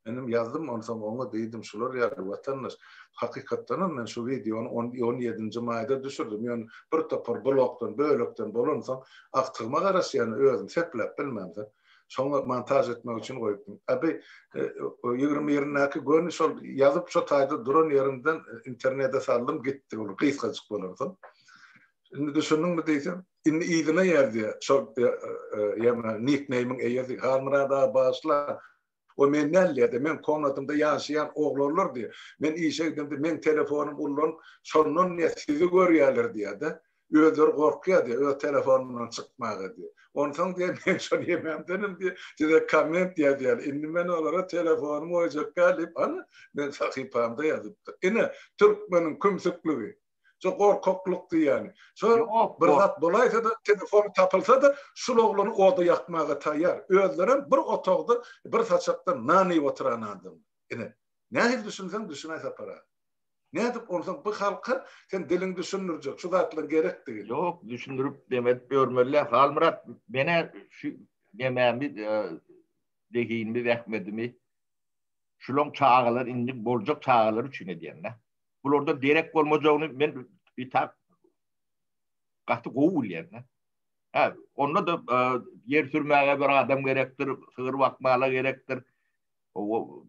Menem ýazdym onsoň oňa diýdim şular ýaly watandaş hakykatdanam men şu wideony on on ýedinji maýda düşürdim ýöne bir topar blokdan bölekden bolansoň agtygyma garaşýan özüm sepläp bilmänsoň Şoňa montaž etmek üçin goýupdym. Abi ýigrimi birindäki göni şol ýazyp şo taýda duran ýerimden internede saldym gitdi ol gysgajyk bolarsoň. Indi düşündiňmi diýsem, indi yzyna ýazýa şol ýa-da nik neýmiň eýesi Halmyrat aga bagyşla O men näleýärdi? Meň komnatymda ýaşaýan oglanlardy. Men işe gidemde meň telefonym ullanyp, şondan diýýär, sizi görýärler diýýär-de. Özleri gorkýar diýýär, öz telefonymdan çykmaga diýýär. Onsoň diýýär, men şol ýememdenem diýýär, size komment ýazýarlar. Indi men olara telefonymy goýjak däl diýip, ana, meň sahypamda ýazypdyr. Ine, türkmeniň kümsükligi. Şo gorkaklyk diýýäni. Şo bir zat bolaýsa-da, telefony tapylsa-da, şul oglany oda ýakmaga taýýar. Özlerem bir otagda, bir saçakda nan iýip oturan adamlar. Ine, nähili düşünseň düşün-aý Sapar aga. Nädip onsoň bu halka sen diliň düşündirjek, şu zatlaryň gerekdigini? Ýok, düşündirip dem edip ýörmeli-le. Halmyrat, men-ä şu nemämi, zehinimi, zähmetimi şulaň çagalar, indi boljak çagalar üçin edýän-dä. bularda derek bolmajagyny men bir tak gaty gowy bilýän. Ha, onda da e, ýer sürmäge bir adam gerekdir, sygyr bakmaga gerekdir. O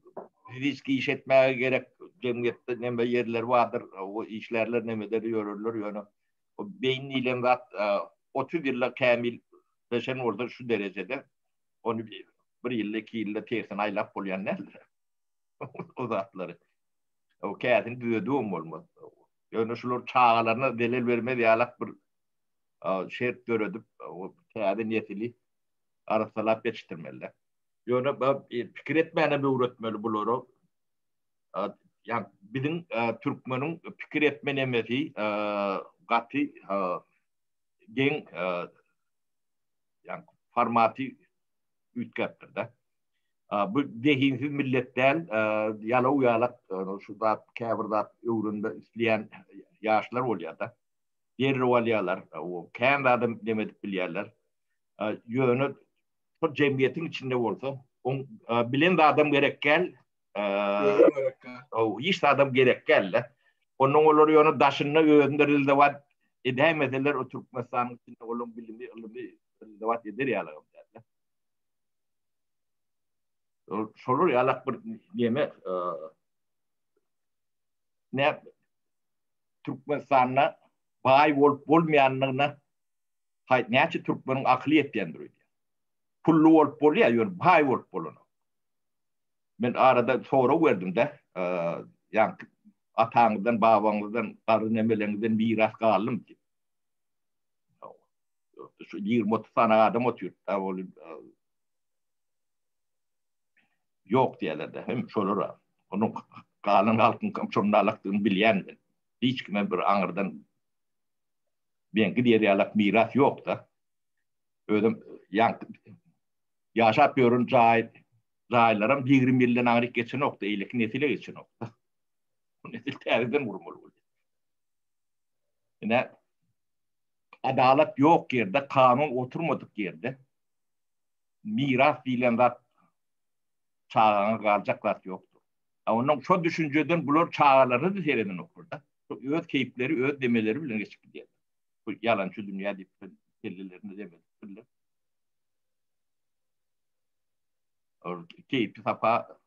risk iş etmäge gerek jemgyýetde näme ýerler bardyr, o işlerler nämede ýörerler ýöne o beýin diýlen zat 30 e, ýylla kämil beşen bolsa şu derejede ony bir ýylda iki ýylda tersine aýlap bolýan näme? o zatlary. O käsini düzedibem bolmaz. Ýöne şular çagalaryna zelel bermez ýalak bir şert döredip, o täze nesili arassalap ýetişdirmeliler. Ýöne pikir etmänem öwretmeli bulara. Ýa biziň türkmeniň pikir etme nemesi gaty geň, ýa formaty üýtgäpdir-de. Bu zehinsiz millet däl, ýalaw ýalak şu zat käbir zat öwrenme isleýän ýaşlar bolýada. Derrew alýalar, kän zada dem edip bilýärler. Ýöne şol jemgyýetiň içinde bolsa, oň bilen zadam gerek däl. Ow, hiç zadam gerek däl. Ondan olar ýöne daşynda özünde rezewat edäýmeseler, o Türkmenistanyň içinde olaryň bilimi, ylmy rezewat eder ýaly. Şolar ýalak bir neme ne Türkmenistanda baý bolup bolmaýandygyna haý näçe türkmeniň akyly ýetýändir öýdýän. Pully bolup bolýar, ýöne baý bolup bolanok. Men arada sorag berdim-de, ýaňky ataňyzdan, babaňyzdan, garry nemeleňizden miras galdym diýip. şu 20-30 sany adam oturyp da ol ýok diýerler de hem şolara onuň galan halkyň kim çomdalakdygyny bilýän men hiç kime bir aňyrdan ben gidiýär ýalak miras ýok da özüm ýan ýaşap ýörün jaý jaýlaram 20 ýyldan aňryk geçenok da eýleki nesile geçenok da bu nesil täzeden gurmaly bolýar ine adalat ýok ýerde, kanun oturmadyk ýerde miras diýlen zat çagaňa galjak zat ýokdur. A ondan şo düşünjeden bular çagalaryny-da sereden okurda. Öz keýpleri, öz demeleri bilen geçip gidýär. Bu ýalançy dünýä diýip kellelerini demedipdirler. Ol keýpi sapa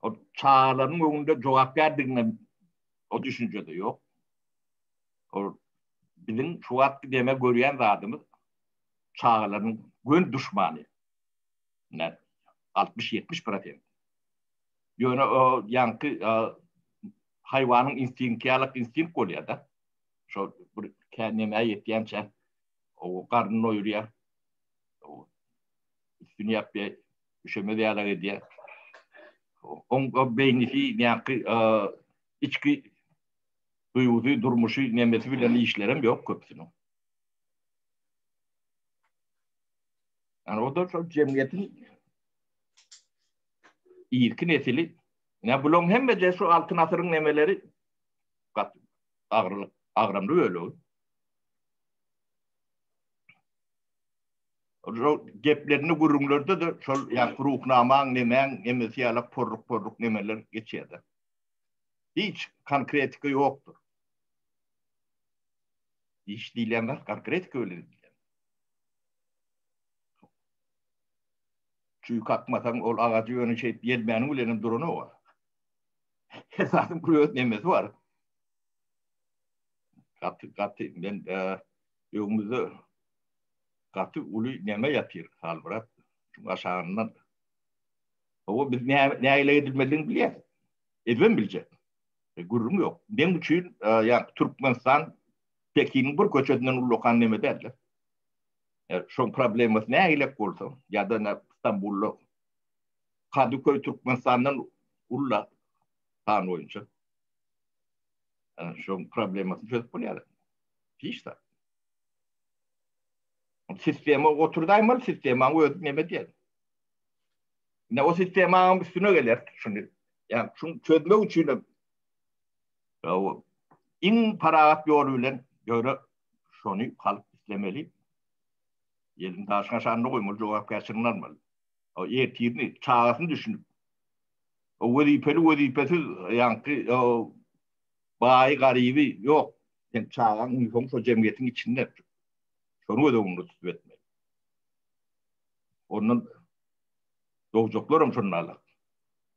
o çagalaryň öňünde jogapkärdigine O düşünjede yok. O bizim şu wagtky deme görýän zadymyz çagalaryň gön düşmany. Ne 60-70 prosent. Ýöne o ýaňky haýwanyň instinkti ýalak instinkt bolýar da. Şo bir käneme ýetýänçä o garnyny doýurýar. Üstüni ýapýar, üşemez ýaly edýär. Oň beýnisi näki içki duýgusy, durmuşy, nemesi bilen işlerem ýok köpüsiniň. Yani o da şol jemgyýetiň irki nesili. Ya bularyň hemme de şu altyn asyryň nemeleri gat agramly bölegi. Ol geplerini gürrüňlerde de şol ýa ruhnamaň nemäň nemesi ýalak porruk porruk nemeler geçýärdi. Hiç konkretika ýokdur. Hiç diýilýän zat konkretika bilen diýilýär. Çüýk akmasaň ol agajy ýöne şeýdip ýelmäniň bilen hem duranok ol. Her zadyň bir öz nemesi bar. Gaty gaty men öňümizde gaty uly neme ýatyr salbyrap şuň aşagyndan Hawa biz nägile edilmelidigini bilýäs. Edibem biljek. E, gürrüň ýok. Meň üçin e, ýa Türkmenistan Pekiniň bir köçesinden ullakan neme däldi. E, şoň problemasy nägile bolsa, ýa-da nä Stambulda Kadıköy Türkmenistandan ulla tan boýunça. E, şoň problemasyny çözüp bolýar. Hiç zat. Sistema oturdaýmaly, sistemaň özi neme diýen. Ne o sistemaň üstüne geler şuny. Ýa şuny çözmek üçin hem iň parahat ýol bilen göre şuny halk islemeli. Ýelim daşyna şanly goýmaly, jogap geçirini almaly. O ýertini, çagasyny düşünip. O wezipeli wezipesiz ýaňky o baýy garyby ýok. Sen çagaň uýasyň şo jemgyýetiň içinde. Şony göz öňünde tutup etmeli. Ondan dogjaklar hem şondan alak.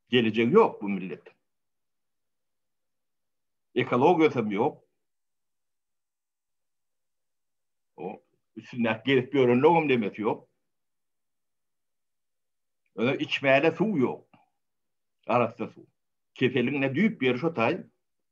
Gelecek yok bu millet. Ekologiyası hem yok. O üstünden gelip görünlük hem demesi yok. Öyle içmeyene su yok. Arasında su. Kefelin ne düyüp bir şu tay.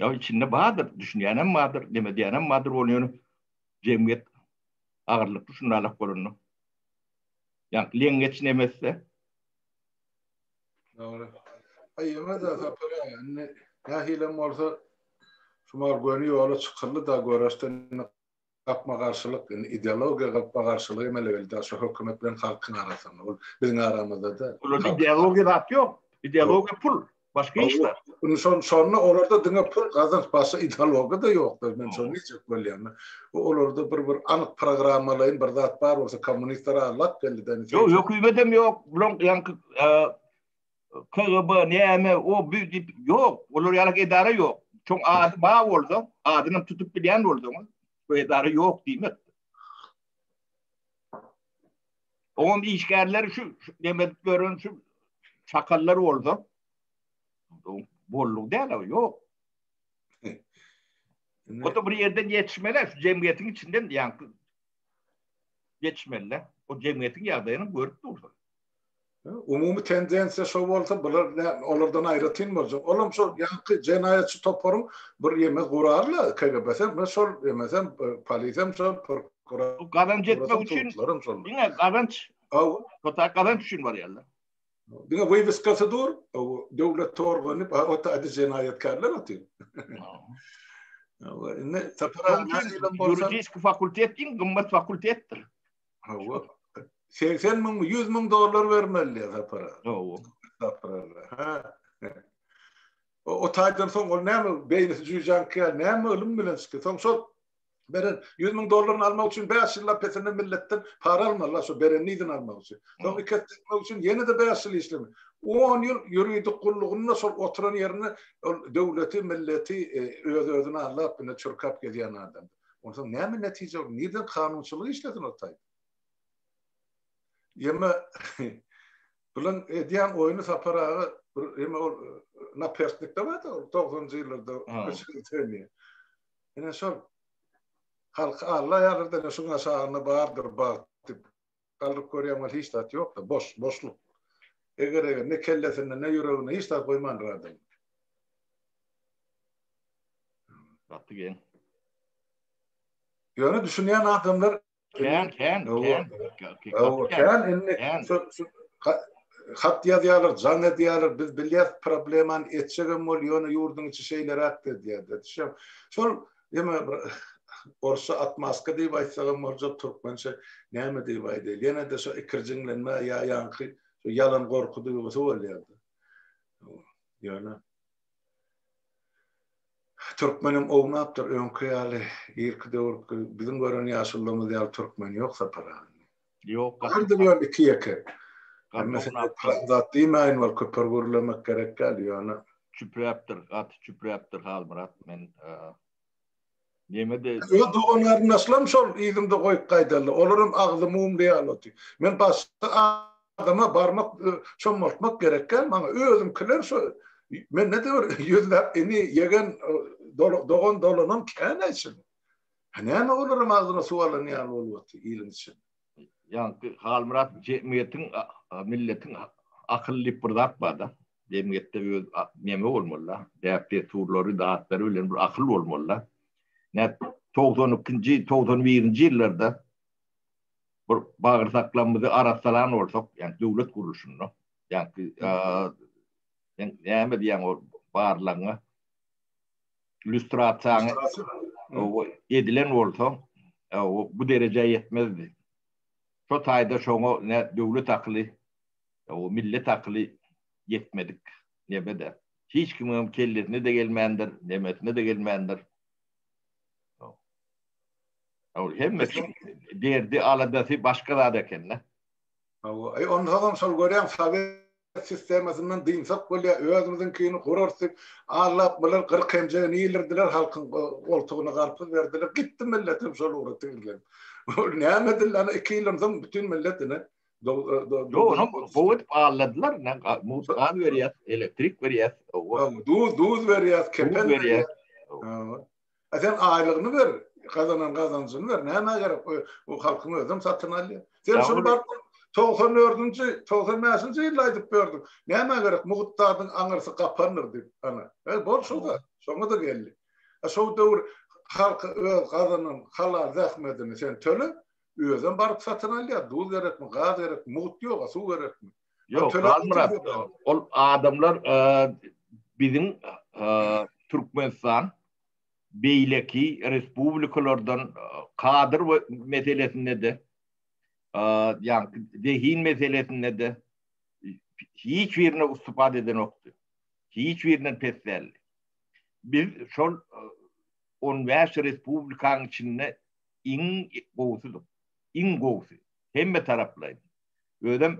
Ýa içinde bardyr, düşünýänem bardyr, demedýänem bardyr ony ýöne jemgyýet agyrlykly şunda alak bolanda. Ýa leňňeç nemesse. Dogry. Aýyma-da sapar indi nähilem bolsa şumal göni ýola çykyldy-da göreşdi. gapma-garşylyk, indi ideologiýa gapma-garşylygy hem ele geldi, daşy hökümet bilen halkyň arasynda, ol biziň aramyzda da. Olarda ideologiýa zat ýok, ideologiýa pul, başga hiç zat. Indi şon, şonda olarda diňe pul gazanç, başga ideologiýa da ýokdur, men şony diýjek bolýan-da. Bu olarda bir bir anyk programmalaýyn bir zat bar bolsa, kommunistler-a lap geldi-de. Ýok, hökümet hem ýok, bulaň ýaňky, KGB näme o bu diýip ýok. Olar ýaly edara ýok. Çoň ady bar bolsa, adyny tutup bilýän bolsaňyz, bu edara ýok diýmek. Oňam işgärleri şu demek gören şu çakallar bolsa, bolluk däl o ýok. O da bir ýerden ýetişmeli, şu jemgyýetiň içinden ýaňky ýetişmeli. O jemgyýetiň ýagdaýyny görüp dursun. Umumy tendensiýa şo bolsa, bular olardan aýratyn boljak. Olam şol ýaňky jenaýatçy toparyň bir ýeme gurarla KGB-se, men şol ýemesem polisiýam şol prokuror. Gazanç etmek üçin. Diňe gazanç. Aw. Ota gazanç üçin barýarlar. Diňe webiskasy dur, döwlet torgany, ota adi jenaýatkärler otyr. Indi tapara. Ýuridik fakultet diň gymmat fakultetdir. Hawa. 80 müň, 100 müň dollar bermeli diýär sapara. Hawa. Sapara. Ha. O, o taýdan soň ol näme beýnisi jüýjäň käl, näme ylym bilen çykdy. Soň şol beren 100 müň dollaryny almak üçin 5 ýyllap pesinden milletden para almaly, şo berenini ýüzüne almak üçin. Soň iki esse etmek üçin ýene-de 5 ýyl işleme. 10 ýyl ýuridik gullugynda şol oturan ýerinde ol döwleti, milleti e, öz-özüne aldap, ine çürkäp gezýän adam. Onsoň näme netije bolar? Nireden kanunçylyk işlesin ol taýda? Ýeme bilen edýän oýny Sapar aga bir ýeme ol naperslikde bar da 90-njy ýyllarda öçürdeni. Ýene şol halky Alla ýalyrdan şu aşagynda bardyr bagt diýip Galyryp görýän weli hiç zat ýokda, boş, boşluk. Eger-eger, ne kellesinde, ne ýüreginde hiç zat goýmandyr adam. Gaty geň. Ýöne düşünýän adamlar Kän, kän, kän. Hat ýazýarlar, jaň edýärler, biz bilýäris problemany, etjegem bol, ýöne ýurduň içi şeýleräkdir diýýärler. Şol Ýene bir orsça atmaska diýip aýtsagam boljak, türkmençe näme diýip aýdaýly. Ýene-de şo ikirjiňlenme ýa ýaňky ýalan gorky duýgusy bolýardy. Ýöne türkmenem ownapdyr, öňki ýaly irki döwürki biziň gören ýaşulymyz ýaly türkmen ýok Sapar aga. Ýok. Bardyr ýöne iki ýeke. Zat diýmäýin ol köpür gürlemek gerek däl ýöne. Çüpräpdir gaty çüpräpdir Halmyrat men ýeňede. Öz dogan garyndaşlarym şol yzymda goýup gaýdaldy. Olaram agzy mumly ýaly otdy. Men başga adama barmak çommaltmak gerek däl maňa özümkiler şo mende de bir ýüzläp ini ýegen dogan dolanan kän eşin. Ha näme olaram agzyna suw alan ýaly bolup otyr iliň içinde. Ýaňky Halmyrat jemgyýetiň milletiň akyly diýip bir zat barda. Jemgyýetde öz neme bolmalyda, däp-dessurlary, datlary bilen bir akyl bolmalyda. Näet togsan ikinji, togsan birinji ýyllarda bir bagyrsaklarymyzy arassalan bolsak, ýagny döwlet gurluşynda, ýaňky sen näme diýýäň ol barlagyňa? lýustrasiýany edilen bolsa, bu derejä ýetmezdi. Şo taýda şoňa ne döwlet akyly, millet akyly ýetmedik nebede. Hiç kimiňem kellesine-de gelmändir, nemesine-de gelmändir. Hemme derdi, aladasy başga zat eken-de. Hawa, onda-da şol görýäň, Sowet sistemasyndan dynsak bolýa özümiziňkini gurarys diýip allap bular gyryk hemjegini ilirdiler halkyň goltugyna garpyz berdiler gitdi milletem şol ugra tigizlenip ol näme edildi ana iki ýyldan soň bütin millet ine Ýok, onam gowy edip alladylar. Mugt gaz berýär, elektrik berýär. Duz, duz berýär, kefen berýär. A sen aýlygyny ber, gazanan gazanjyny ber, nämä gerek bu halkyň özem satyn alýar. Sen şuny bar 94-nji, 95-nji ýylda aýdyp berdiň. Nämä gerek mugt zadyň aňyrsy gapandyr diýip. Ana, e bol şoda, şoňa-da geldi. A şol döwür halky öz gazanan halal zähmetini sen töle, özem baryp satyn alýar, duz gerekmi, gaz gerekmi, mugt ýoga, suw gerekmi? Ýok, Halmyrat, ol adamlar biziň Türkmenistan beýleki respublikalardan kadr we meselesinde-de, ýagny zehin meselesinde-de hiç birine ustupat edenokdy. Hiç birinden pes däldi. Biz şol 15 respublikanyň içinde iň gowusydyr. Iň gowusy. Hemme taraplaýyn. Özem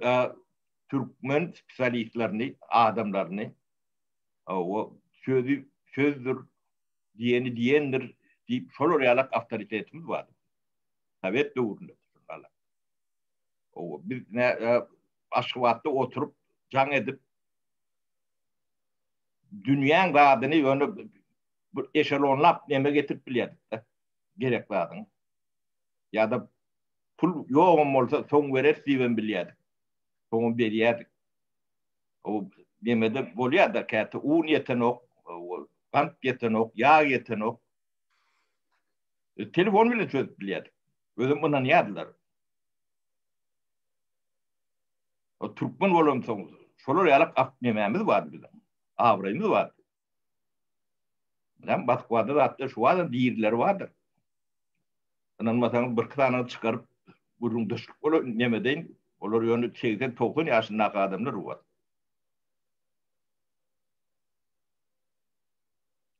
türkmen spesialistlerini, adamlaryny o sözi sözdür, diýeni diýendir diýip şolar ýalak awtoritetimiz bar. Sowet döwründe ýaly. O biz ne Aşgabatda oturyp jaň edip dünýäň gadyny ýöne bir eşelonlap neme getirip bilýärdik-de. gerek zadyň. Ýa-da pul ýogam bolsa, soň bereris diýibem bilýärdik. Soňam berýärdik. O nemede bolýar-da, käte un ýetenok, gant ýetenok, ýag ýetenok. Telefon bilen çözüp bilýärdik. Özüm ynanýardylar. O türkmen bolansoň, şolar ýalak ak nemämiz bardy biziň. Abraýymyz bardy. Ýa Moskwada zatlar şu wagtam dirileri bardyr. Ynanmasaňyz birki sanyny çykaryp gürrüňdeşlik bolar neme deýin. Olar ýöne segsen, togsan ýaşyndaky adamlar bu wagt.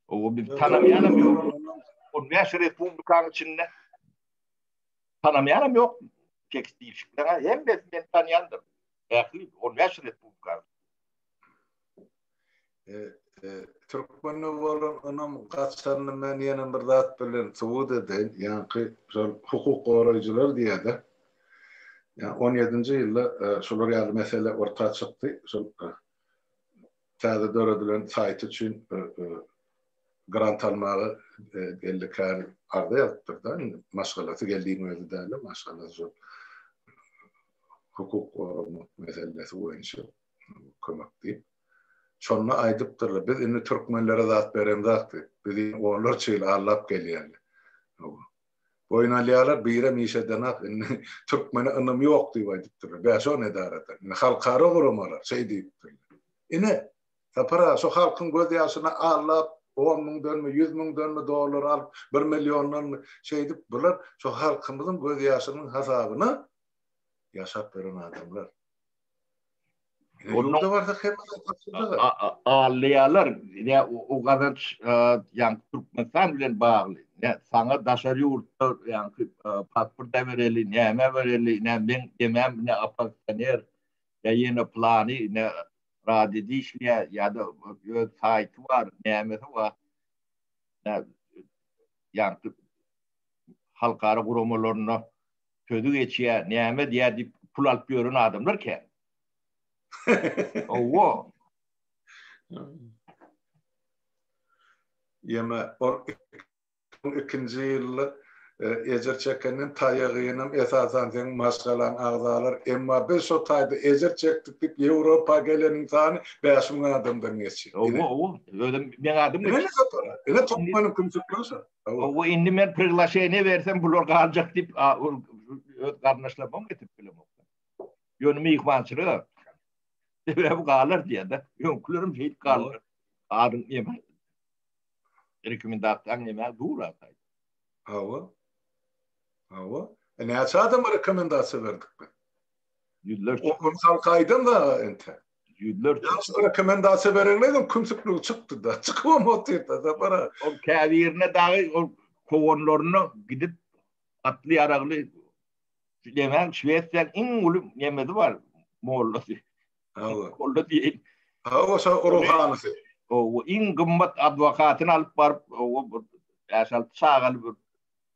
Owo biz tanamaýanam ýok. On bäş respublikanyň içinde tanamaýanam ýok. Tekst diýişikler hemmesini men tanýandyryn. Ähli on bäş respublikanyň. Türkmende bolan ynam gaçanyny men ýene bir zat bilen subut edeýin. Ýaňky şol hukuk goraýjylar diýýärdi. Ýa 17-nji ýylda e, şular ýaly mesele orta çykdy. Şol e, täze döredilen saýt üçin e, grant almaga geldi kär arda ýazypdyr da. Maşgalasy geldiň özi däl, maşgalasy şol hukuk goramak meselesi boýunça. kömek diýip. Şonda aýdypdyrlar, biz indi türkmenlere zat beremzok diýip. Biz indi onlarça ýyl allap gelýäli. Boýun alýarlar, birem iş edenok, indi türkmene ynam ýok diýip aýdypdyrlar. Bäşo nedarada. Indi halkara guramalar şeý diýipdirler. Ine, Sapar aga, şo halkyň gözýaşyny allap, on müňdenmi, ýüz müňdenmi dollar alyp, bir milliondanmy, şeýdip, bular şo halkymyzyň gözýaşynyň hasabyna ýaşap ýören adamlar. Ýurda barsak hemmesi tapyldy. Alýarlar. Ýa o gazanç ýa Türkmenistan bilen bagly. Ýa saňa daşary ýurtda ýa pasport bereli, näme bereli, ýa men demem, ýa oppozisioner, ýa ýene plany, ýa radioda işleýär, ýa-da öz saýty bar, nämesi bar. Ýa halkara guramalarynda. sözi geçýä näme diýä diýip pul alyp ýören adamlar kän. Owo. Ýeme ol ikinji ýylda e, ejir çekenden taýagynam esasan seň maşgalaň agzalar. Emma biz şo taýda ejir çekdik diýip Ýewropa geleniň sany 5000 adamdan geçýär. Owo, owo. Özüm meň adym geçýär. Ine topmanyň kümsükleri şo. Hawa indi men priglaşeniýe bersem bular galjak diýip öz garyndaşlaryma getirip bilemok. Ýöne myhmançylyga sebäbi galar diýende öňkülerim şeýdip galar. Adyň ýeme. Rekomendasiýaň ýeme dur atay. Hawa. Hawa. E näçe adama rekomendasiýa berdik biz? Ýüzlerçe. Onu halka aýdan da ente. Ýüzler. Ýaşlar rekomendasiýa bereňler ol kümsükligi çykdy da. Çykybam otyrda da bara. Ol käbirine dagy ol kowanlaryna gidip atly ýaragly Lemen Şwesiýanyň iň uly nemesi bar mollasy. Hawa. Molla diýen. Hawa şa ruhanysy. O iň gymmat adwokatyny alyp baryp o bir äşal çagaly bir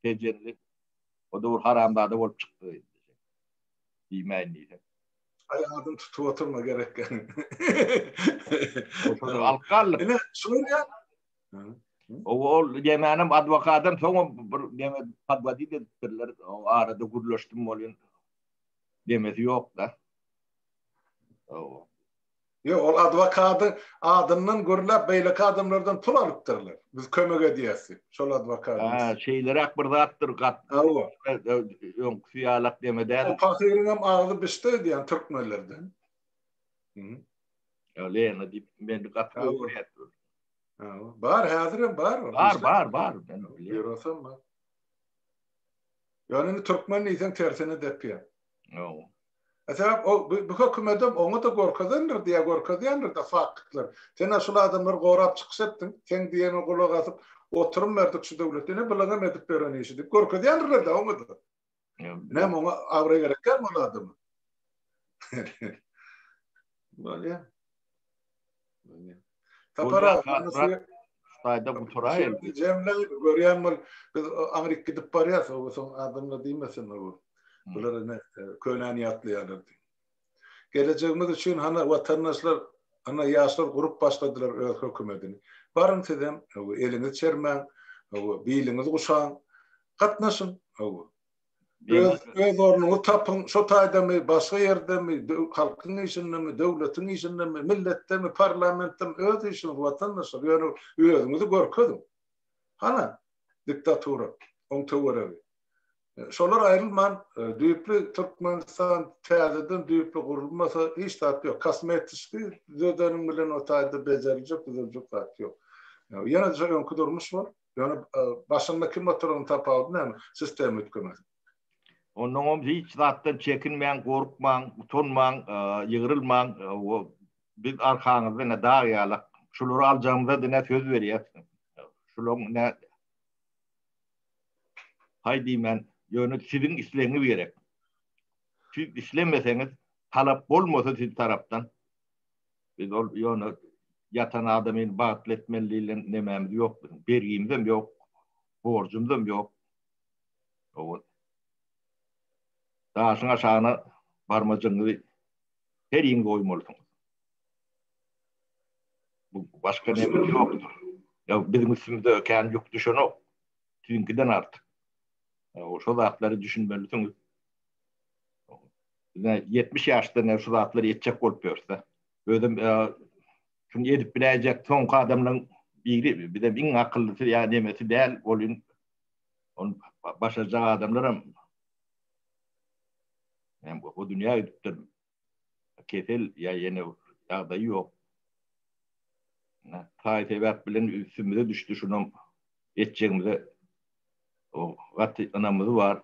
tejenli. O da bir haramzada bolup çykdy. Diýmäýin diýse. Aýagyny tutup oturma gerek ýa. Alyp galdyk. Ine, şuny ýa. Ol ýemänim adwokatdan soň bir ýene podwodit edipdirler. O arada gürleşdim bolýan. Demesi ýok-da. Ýok, ol adwokadyň adyndan gürläp beýleki adamlardan pul alypdyrlar. Biz kömek edýäs diýip, şol adwokadyň. Hä, şeýleräk bir zatdyr gat. Hawa. Öňküsi ýalak deme däl. O pahyryň hem agzy bişdi öýdýän türkmenlerden. Hä. Ýa Lena diýip meni gaty gowy görýärdi. Hawa. Bar, häzirem bar. Bar, bar, bar. Ýörasem bar. Ýöne indi türkmen diýseň tersine depýär. Hawa. Sebäp ol bu hökümetem oňada gorkezendir diýä gorkezýändirde faktlary. Sen-ä şul adamlary gorap çykyş etdiň. Seň diýeňe gulak asyp oturym berdik şu döwlet. Ine bulaňam edip beren işi diýip gorkezýändirlerde oňada. Näme oňa abraý gerekgämi ol adama. Bolýa. Sapar aga, Saýda guturaýyn. Jemle görýän bol, biz Aňryk gidip barýas, soň adamla diýmesin bu. Bular ene könäni ýatlaýarlar. Gelejegimiz üçin hana watandaşlar, hana ýaşlar gurup başladylar öz hökümetini. Baryň sizem, eliňiz çermäň, biliňiz guşaň, gatnaşyň. öz, öz ornuňy tapyň, şo taýdamy, başga ýerdemi, halkyň işindemi, döwletiň işindemi, milletdemi, parlamentdemi, öz işiňiz watandaşlar, ýöne özüňizi görkeziň. Hana, diktatura, oň töweregi. E, şolar aýrylman, e, düýpli Türkmenistan täzeden düýpli gurulmasa, hiç zat ýok. Kosmetiki düzedeniň bilen o taýda bejeljek, düzeljek zat ýok. Ýene-de öňki durmuş bolup, Ýöne başynda kim oturandygyň tapawudy näme? Sistema üýtgemese. Onnoň oň hiç zatdan çekinmäň, gorkmaň, utanmaň, ýygrylmaň. Biz arkaňyzda ine dag ýalak. Şulary aljagymyza diňe söz berýäs. Şulaň ine haý diýmän, ýöne siziň islegiňiz gerek. Siz islemeseňiz, talap bolmasa siz tarapdan, Biz ol ýone ýatan adamyny bagtly etmeli diýlen nemämiz ýok biziň. Bergimizem ýok. Borjumyzam ýok. Owal. Daşyň aşagyna barmajygyňyzy her ýyň goýmalysyňyz. Bu başga näme ýokdur. Ýa biziň üstümizde kän ýük düşenok. Siziňkiden artyk. Owal şo zatlary düşünmelisiňiz. Ine, ýetmiş ýaşda ine şu zatlary etjek bolup ýörse, özem şuny edip biläýjek soňky adamlaryň biri, bizem iň akyllysy ýa nemesi däl, ol in ony başarjak adamlaram hem bu dünýä gidipdir. Kesel ýa ýene ýagdaýy ýok. Ine, taý sebäp bilen üstümize düşdi, şunam etjegimize gaty ynamymyz bar.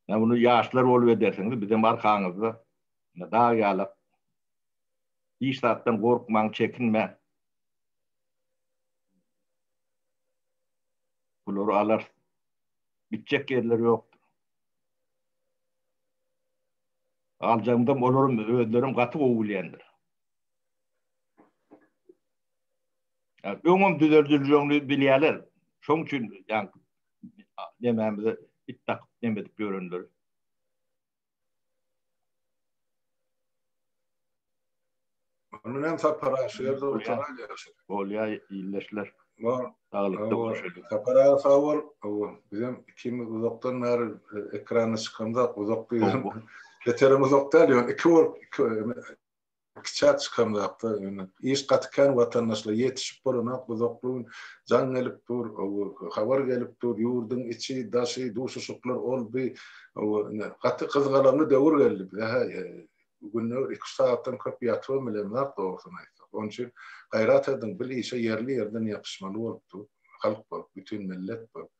Ýa muny ýaşlar bolup edersiňiz, bizem arkaňyzda dag ýalak. Hiç zatdan gorkmaň, çekinmäň. Bulary alarys. Gitjek ýerleri ýokdur. Aljagymyzam olaram özlerem gaty gowy bilýändir. Öňem düzeldiljegiňi bilýärler. Şoň üçin ýa Demämize it dakyp dem edip ýörenler. Ondan hem Sapar Aşyr da oturan ýaşy. Bolýa ýilleşler. Bar. Saglyk doguşyp. Sapar aga sag bol. Awa, bizem ikimiz uzakdan bäri e, ekrana çykamda uzak diýdim. Beterim uzak däl, ýöne iki bolup, iki Kiçä çykan zatlar ýöne. Iş gaty kän watandaşlar ýetişip bolanok uzaklyň jaň gelip dur habar gelip dur ýurdyň içi daşy duşuşyklar ol by gaty gyzgalaňly döwür geldi bize hä günde iki üç sagatdan köp ýatybam bilemzok dogrusyny aýtsak onuň üçin gaýrat ediň bil işe ýerli ýerden ýapyşmaly bolup dur halk bolup bütin millet bolup.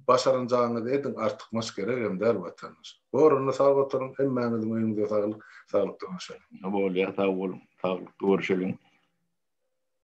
Başaranjagyňyzy ediň artykmaç geregem däl watandaş. Goranda sag oturyň hemmäňiziň öýüňize saglyk saglykda görüşeliň. Bolýar sag boluň saglykda görüşeliň.